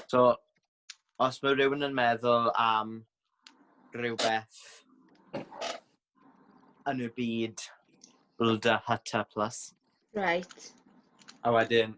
So, os mae rhywun yn meddwl am rhywbeth yn y byd Blda Hata Plus. Right. A wedyn,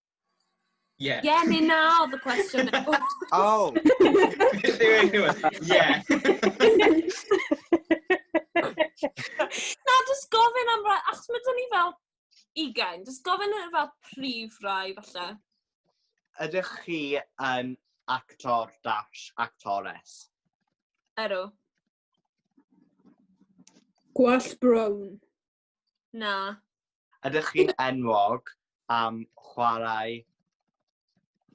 Ie. Ie neu na oedd y cwestiwn. oh! Ie. na, jyst gofyn am rai, achos mae dyn ni fel ugain, jyst gofyn am fel prif rai falle. Ydych chi yn actor dash actores? Ero. Gwall brown. Na. Ydych chi'n enwog am chwarae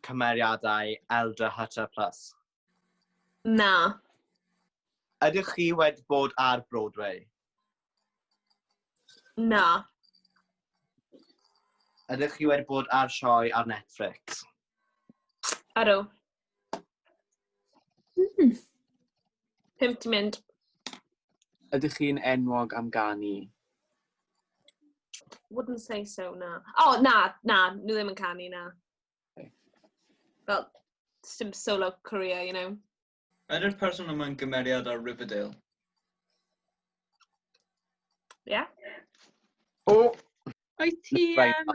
cymeriadau Elder Hutter Plus? Na. Ydych chi wedi bod ar Broadway? Na. Ydych chi wedi bod ar sioe ar Netflix? Ydw. Hmm. Pump di mynd. Ydych chi'n enwog am ganu? Wouldn't say so, na. O, oh, na, na, nhw ddim yn canu, na. Okay. Fel, dim solo career, you know. Ydy'r person yma'n gymeriad ar Riverdale? Ie. Yeah. O! O'i ti, um,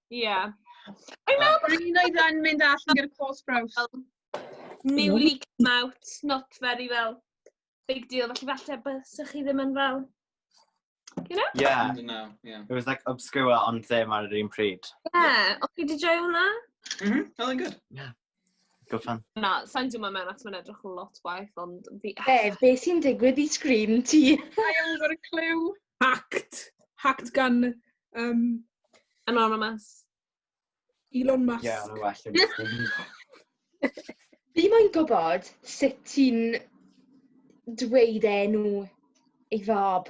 Ie. O'n i'n meddwl bod... O'n i'n oed yn mynd allan gyda cos braws. Newly come out, not very fel big deal. Felly falle bysych chi ddim yn fel... You know? Yeah. No, yeah. It was like obscure ond ddim ar yr un pryd. Ie. O'ch chi wedi joio hwnna? Mhm, oedd yn good. Yeah. Go fan. Na, sa'n dwma mewn at mae'n edrych lot waith, ond... Be, be sy'n digwydd i sgrin ti? I am got a clue. Hacked. Hacked gan... Um, Anonymous. Elon Musk. Ie, yeah, well. Fi moyn gwybod sut ti'n dweud enw ei fab.